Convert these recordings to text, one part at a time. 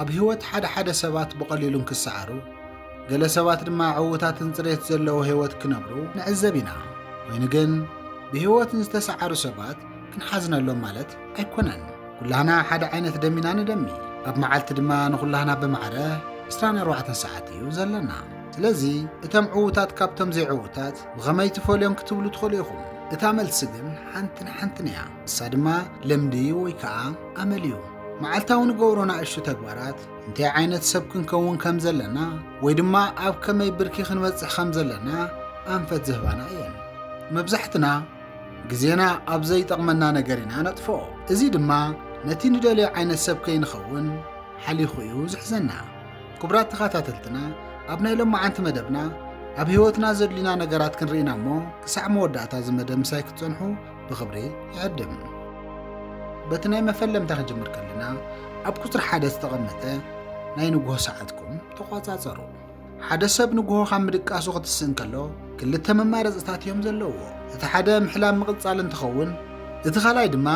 ኣብ ህይወት ሓደ ሓደ ሰባት ብቐሊሉ እንክሰዓሩ፣ ገለ ሰባት ድማ ዕውታትን ጽሬት ዘለዎ ህይወት ክነብሩ ንዕዘብ ኢና። ኮይኑ ግን ብህይወት ንዝተሰዓሩ ሰባት ክንሓዝነሎም ማለት ኣይኮነን። ኩላህና ሓደ ዓይነት ደም ኢና ንደሚ። ኣብ መዓልቲ ድማ ንኹላህና ብማዕረ ዕስራን ኣርባዕተን ሰዓት እዩ ዘለና። ስለዚ እቶም ዕውታት ካብቶም ዘይዕውታት ብኸመይ ትፈልዮም ክትብሉ ትኽእሉ ኢኹም። እታ መልሲ ግን ሓንትን ሓንትን እያ። ንሳ ድማ ልምዲ ወይ ከኣ ኣመል እዩ። መዓልታዊ ንገብሮ ናእሽቱ ተግባራት እንታይ ዓይነት ሰብ ክንከውን ከም ዘለና ወይ ድማ ኣብ ከመይ ብርኪ ክንበጽሕ ከም ዘለና ኣንፈት ዝህባና እየን። መብዛሕትና ግዜና ኣብ ዘይጠቕመና ነገር ኢና ነጥፍኦ። እዚ ድማ ነቲ ንደልዮ ዓይነት ሰብ ከይንኸውን ሓሊኹ እዩ ዝሕዘና። ክቡራት ተኸታተልትና ኣብ ናይ ሎማዓንቲ መደብና ኣብ ህይወትና ዘድልዩና ነገራት ክንርኢና እሞ ክሳዕ መወዳእታ እዚ መደብ ምሳይ ክትጸንሑ ብኽብሪ ይዕድም። በቲ ናይ መፈለምታ ክጅምር ከለና ኣብ ቁፅሪ ሓደ ዝተቐመጠ ናይ ንግሆ ሰዓትኩም ተቆፃፀሩ። ሓደ ሰብ ንግሆ ካብ ምድቃሱ ክትስእ እንከሎ ክልተ መማረፅታት እዮም ዘለዎ። እቲ ሓደ ምሕላም ምቕፃል እንትኸውን እቲ ካልኣይ ድማ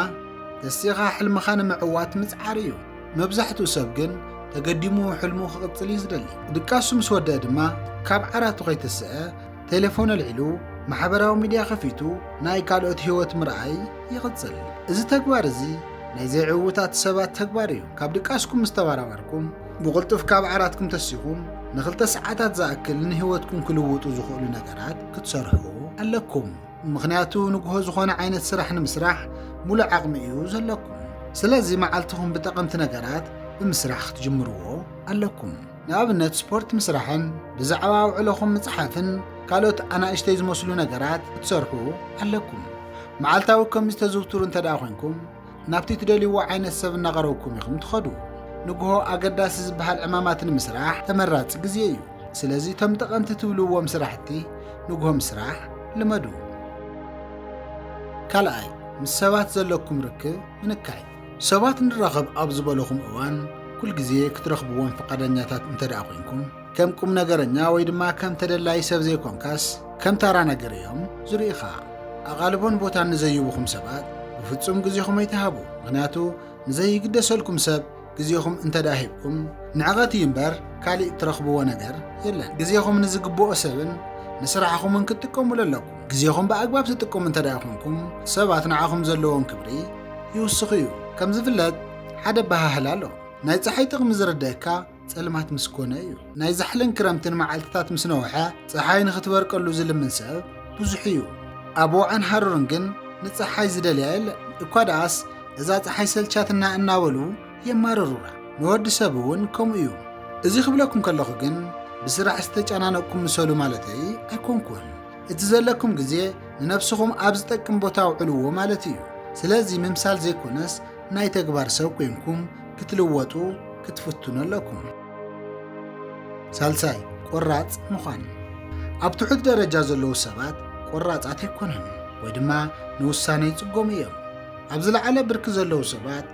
ተሲኻ ሕልምኻ ንምዕዋት ምፅዓር እዩ። መብዛሕትኡ ሰብ ግን ተገዲሙ ሕልሙ ክቕፅል እዩ ዝደሊ። ድቃሱ ምስ ወደአ ድማ ካብ ዓራቱ ከይተስአ ቴሌፎን ኣልዒሉ ማሕበራዊ ሚድያ ከፊቱ ናይ ካልኦት ህይወት ምርኣይ ይቕጽል። እዚ ተግባር እዚ ናይ ዘይዕዉታት ሰባት ተግባር እዩ። ካብ ድቃስኩም ምስ ተበራበርኩም፣ ብቕልጡፍ ካብ ዓራትኩም ተሲኹም ንኽልተ ሰዓታት ዝኣክል ንህይወትኩም ክልውጡ ዝኽእሉ ነገራት ክትሰርሑ ኣለኩም። ምኽንያቱ ንግሆ ዝኾነ ዓይነት ስራሕ ንምስራሕ ሙሉእ ዓቕሚ እዩ ዘለኩም። ስለዚ መዓልትኹም ብጠቐምቲ ነገራት ብምስራሕ ክትጅምርዎ ኣለኩም። ንኣብነት ስፖርት ምስራሕን ብዛዕባ ውዕሎኹም ምጽሓፍን ካልኦት ኣናእሽተይ ዝመስሉ ነገራት ክትሰርሑ ኣለኩም። መዓልታዊ ከምዚ ተዝውትሩ እንተ ደኣ ኮንኩም ናብቲ ትደልይዎ ዓይነት ሰብ እናቐረብኩም ኢኹም ትኸዱ። ንግሆ ኣገዳሲ ዝበሃል ዕማማት ንምስራሕ ተመራጺ ግዜ እዩ። ስለዚ እቶም ጠቐምቲ ትብልዎም ስራሕቲ ንግሆ ምስራሕ ልመዱ። ካልኣይ፣ ምስ ሰባት ዘለኩም ርክብ ምንካይ። ሰባት ንራኸብ ኣብ ዝበለኹም እዋን ኩል ግዜ ክትረኽብዎም ፍቓደኛታት እንተ ደኣ ኰንኩም፣ ከም ቁም ነገረኛ ወይ ድማ ከም ተደላዪ ሰብ ዘይኰንካስ ከም ታራ ነገር እዮም ዝርእዩኻ። ኣቓልቦን ቦታን ንዘይብኹም ሰባት ብፍጹም ግዜኹም ኣይትሃቡ፣ ምኽንያቱ ንዘይግደሰልኩም ሰብ ግዜኹም እንተ ደኣ ሂብኩም ንዕቐት እዩ እምበር ካልእ እትረኽብዎ ነገር የለን። ግዜኹም ንዝግብኦ ሰብን ንስራሕኹምን ክትጥቀሙሉ ኣለኩም። ግዜኹም ብኣግባብ ትጥቀሙ እንተድኣ ኹንኩም፣ ሰባት ንዓኹም ዘለዎም ክብሪ ይውስኹ እዩ። ከም ዝፍለጥ ሓደ ኣበሃህላ ኣሎ፣ ናይ ጸሓይ ጥቕሚ ዝርድኣካ ጸልማት ምስ ኮነ እዩ። ናይ ዛሕልን ክረምትን መዓልትታት ምስ ነውሐ፣ ጸሓይ ንኽትበርቀሉ ዝልምን ሰብ ብዙሕ እዩ። ኣብ ወዕን ሃሩርን ግን ንጸሓይ ዝደልያ የለን። እኳ ደኣስ እዛ ጸሓይ ሰልቻትና እናበሉ የማርሩና። ንወዲ ሰብ እውን ከምኡ እዩ። እዚ ክብለኩም ከለኹ ግን ብስራሕ ዝተጨናነቕኩም ምሰሉ ማለተይ ኣይኮንኩን። እቲ ዘለኩም ግዜ ንነብስኹም ኣብ ዝጠቅም ቦታ ኣውዕልዎ ማለት እዩ። ስለዚ ምምሳል ዘይኮነስ ናይ ተግባር ሰብ ኮይንኩም ክትልወጡ ክትፍትኑ ኣለኩም። ሳልሳይ ቆራፅ ምዃን። ኣብ ትሑት ደረጃ ዘለዉ ሰባት ቆራፃት ኣይኮኑን ወይ ድማ ንውሳነ ይፅገሙ እዮም። ኣብ ዝለዓለ ብርኪ ዘለዉ ሰባት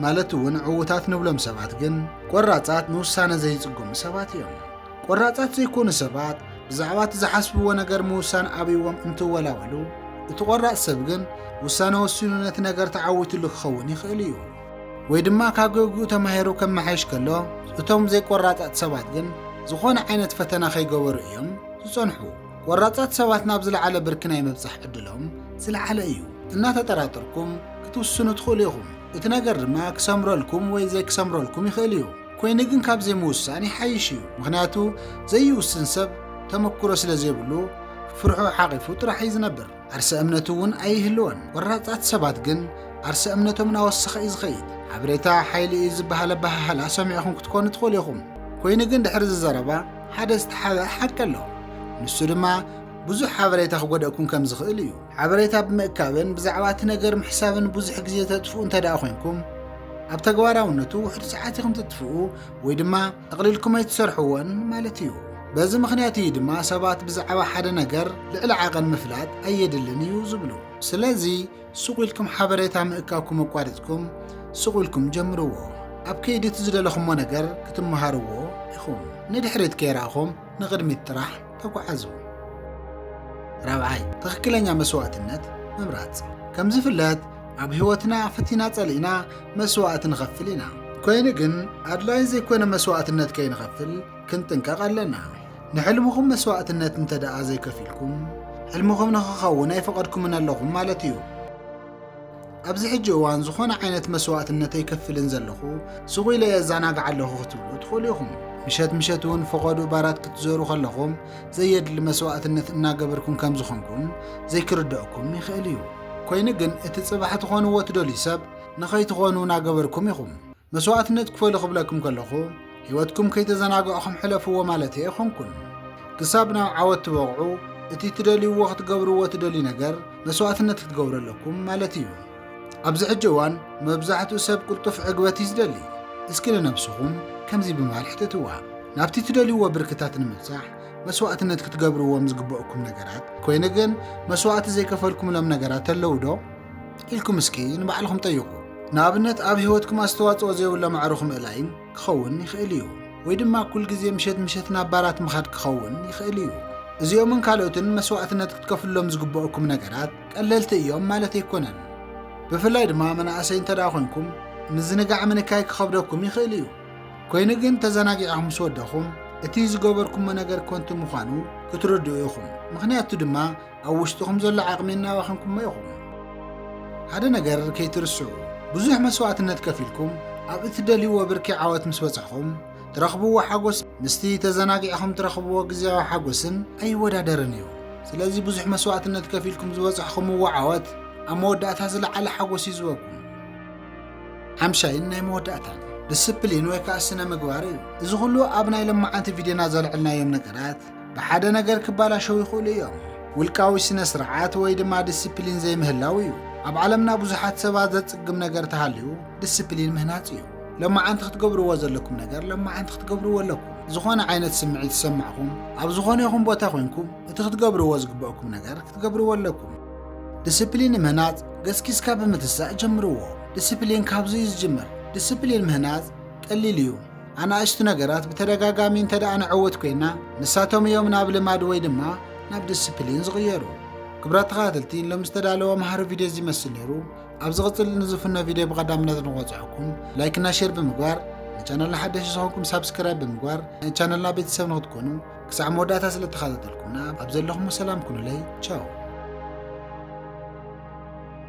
ማለት እውን ዕውታት ንብሎም ሰባት ግን ቆራፃት ንውሳነ ዘይፅገሙ ሰባት እዮም። ቈራጻት ዘይኰኑ ሰባት ብዛዕባ እቲ ዝሓስብዎ ነገር ምውሳን ኣብይዎም እንትወላወሉ፣ እቲ ቈራጽ ሰብ ግን ውሳነ ወሲኑ ነቲ ነገር ተዓዊትሉ ክኸውን ይኽእል እዩ። ወይ ድማ ካብ ጌግኡ ተማሂሩ ከመሓይሽ ከሎ፣ እቶም ዘይቈራጻት ሰባት ግን ዝዀነ ዓይነት ፈተና ከይገበሩ እዮም ዝጸንሑ። ቈራጻት ሰባት ናብ ዝለዓለ ብርኪ ናይ ምብጻሕ ዕድሎም ዝለዓለ እዩ። እናተጠራጠርኩም ክትውስኑ ትኽእሉ ኢኹም፣ እቲ ነገር ድማ ክሰምረልኩም ወይ ዘይክሰምረልኩም ይኽእል እዩ። ኮይኑ ግን ካብ ዘይምውሳን ይሓይሽ እዩ ምኽንያቱ ዘይውስን ሰብ ተመኩሮ ስለ ዘይብሉ ፍርሑ ሓቒፉ ጥራሕ እዩ ዝነብር ዓርሰ እምነቱ እውን ኣይህልዎን ቆራፃት ሰባት ግን ዓርሰ እምነቶም እናወሰኸ እዩ ዝኸይድ ሓበሬታ ሓይሊ እዩ ዝበሃል ኣበሃህላ ሰሚዕኹም ክትኮኑ ትኽእሉ ኢኹም ኮይኑ ግን ድሕሪ እዚ ዘረባ ሓደ ዝተሓብአ ሓቂ ኣሎ ንሱ ድማ ብዙሕ ሓበሬታ ክጎደእኩም ከም ዝኽእል እዩ ሓበሬታ ብምእካብን ብዛዕባ እቲ ነገር ምሕሳብን ብዙሕ ግዜ ተጥፍኡ እንተ ደኣ ዄንኩም፣ ኣብ ተግባራውነቱ ውሑድ ጸዓት ኢኹም ትጥፍኡ ወይ ድማ ጠቕሊልኩም ኣይትሰርሕዎን ማለት እዩ። በዚ ምኽንያት እዩ ድማ ሰባት ብዛዕባ ሓደ ነገር ልዕሊ ዓቐን ምፍላጥ ኣየድልን እዩ ዝብሉ። ስለዚ፣ ስቕ ኢልኩም ሓበሬታ ምእካብኩም ኣቋሪጽኩም፣ ስቕ ኢልኩም ጀምርዎ። ኣብ ከይዲ እቲ ዝደለኹሞ ነገር ክትመሃርዎ ኢኹም። ንድሕሪት ከይረኣኹም፣ ንቕድሚት ጥራሕ ተጓዓዙ። ራብዓይ፣ ትኽክለኛ መስዋእትነት ምምራጽ። ከም ዝፍለጥ ኣብ ህይወትና ፈቲና ጸሊእና መስዋእቲ ንኸፍል ኢና። ኮይኑ ግን ኣድላይ ዘይኮነ መስዋእትነት ከይንኸፍል ክንጥንቀቕ ኣለና። ንሕልምኹም መስዋእትነት እንተ ደኣ ዘይከፊልኩም፣ ሕልምኹም ንኽኸውን ኣይፈቐድኩምን ኣለኹም ማለት እዩ። ኣብዚ ሕጂ እዋን ዝኾነ ዓይነት መስዋእትነት ኣይከፍልን ዘለኹ፣ ሱቕ ኢለ እዛናጋዕ ኣለኹ ክትብሉ ትኽእሉ ኢኹም። ምሸት ምሸት እውን ፈቐዶ ባራት ክትዘሩ ከለኹም ዘየድሊ መስዋእትነት እናገበርኩም ከም ዝኾንኩም ዘይክርደኣኩም ይኽእል እዩ። ኮይኑ ግን እቲ ጽባሕ ትኾንዎ ትደልዩ ሰብ ንኸይትኾኑ እናገበርኩም ኢኹም። መስዋእትነት ክፈሉ ክብለኩም ከለኹ፣ ህይወትኩም ከይተዘናጋዕኹም ሕለፍዎ ማለት ኣይኾንኩን። ክሳብ ናብ ዓወት ትበቕዑ እቲ ትደልይዎ ክትገብርዎ ትደልዩ ነገር መስዋእትነት ክትገብሩ ኣለኩም ማለት እዩ። ኣብዚ ሕጂ እዋን መብዛሕትኡ ሰብ ቅልጡፍ ዕግበት እዩ ዝደሊ። እስኪ ንነብስኹም ከምዚ ብምባል ሕተትዋ፣ ናብቲ ትደልይዎ ብርክታት ንምብጻሕ መስዋእትነት ክትገብርዎም ዝግበኡኩም ነገራት ኮይኑ ግን መስዋእቲ ዘይከፈልኩምሎም ነገራት ኣለዉ ዶ? ኢልኩም እስኪ ንባዕልኹም ጠይቑ። ንኣብነት ኣብ ህይወትኩም ኣስተዋጽኦ ዘይብሎም ኣዕሩኽ ምእላይ ክኸውን ይኽእል እዩ፣ ወይ ድማ ኩል ግዜ ምሸት ምሸት ናብ ባራት ምኻድ ክኸውን ይኽእል እዩ። እዚኦምን ካልኦትን መስዋእትነት ክትከፍሉሎም ዝግበኣኩም ነገራት ቀለልቲ እዮም ማለት ኣይኮነን። ብፍላይ ድማ መናእሰይ እንተደኣ ኮንኩም ምዝንጋዕ ምንካይ ክኸብደኩም ይኽእል እዩ። ኮይኑ ግን ተዘናጊዕኹም ምስ ወደኹም እቲ ዝገበርኩሞ ነገር ኮንቱ ምዃኑ ክትርድኡ ኢኹም። ምኽንያቱ ድማ ኣብ ውሽጥኹም ዘሎ ዓቕሚ እናባኸንኩሞ ኢኹም። ሓደ ነገር ከይትርስዑ፣ ብዙሕ መስዋእትነት ከፊልኩም ኣብ እትደልይዎ ብርኪ ዓወት ምስ በጻሕኹም ትረኽብዎ ሓጎስ ምስቲ ተዘናጊዕኹም ትረኽብዎ ግዜያዊ ሓጎስን ኣይወዳደርን እዩ። ስለዚ ብዙሕ መስዋእትነት ከፊልኩም ዝበጻሕኹምዎ ዓወት ኣብ መወዳእታ ዝለዓለ ሓጎስ እዩ ዝበኩም። ሓምሻይን ናይ መወዳእታን ዲስፕሊን ወይ ከዓ ስነ ምግባር እዩ። እዚ ኩሉ ኣብ ናይ ለማዓንቲ ቪድዮና ዘልዕልናዮም ነገራት ብሓደ ነገር ክባላሸው ይኽእሉ እዮም። ውልቃዊ ስነ ስርዓት ወይ ድማ ዲስፕሊን ዘይምህላው እዩ። ኣብ ዓለምና ብዙሓት ሰባት ዘጽግም ነገር ተሃልዩ ዲስፕሊን ምህናጽ እዩ። ሎማዓንቲ ክትገብርዎ ዘለኩም ነገር ሎማዓንቲ ክትገብርዎ ኣለኩም። ዝኾነ ዓይነት ስምዒት ዝሰማዕኹም ኣብ ዝኾነ ይኹን ቦታ ኮንኩም እቲ ክትገብርዎ ዝግበእኩም ነገር ክትገብርዎ ኣለኩም። ዲስፕሊን ምህናጽ ገስጊስካ ብምትሳእ ጀምርዎ። ዲስፕሊን ካብዚ እዩ ዝጅምር። ዲስፕሊን ምህናጽ ቀሊል እዩ። ኣናእሽቲ ነገራት ብተደጋጋሚ እንተ ደኣ ንዕውት ኮይና፣ ንሳቶም እዮም ናብ ልማድ ወይ ድማ ናብ ድስፕሊን ዝቕየሩ። ክብራት ተኸታተልቲ ሎም ዝተዳለወ መሃሪ ቪድዮ እዚ ይመስል ነይሩ። ኣብ ዝቕፅል ንዝፍኖ ቪድዮ ብቐዳምነት ንቆፅዐኩም ላይክ እና ሼር ብምግባር ንቻነልና ሓደሽ ዝኾንኩም ሳብስክራይብ ብምግባር ናይ ቻነልና ቤተሰብ ንክትኮኑ ክሳዕ መወዳእታ ስለ ተኸታተልኩምና ኣብ ዘለኹም ሰላም ኩኑለይ ቻው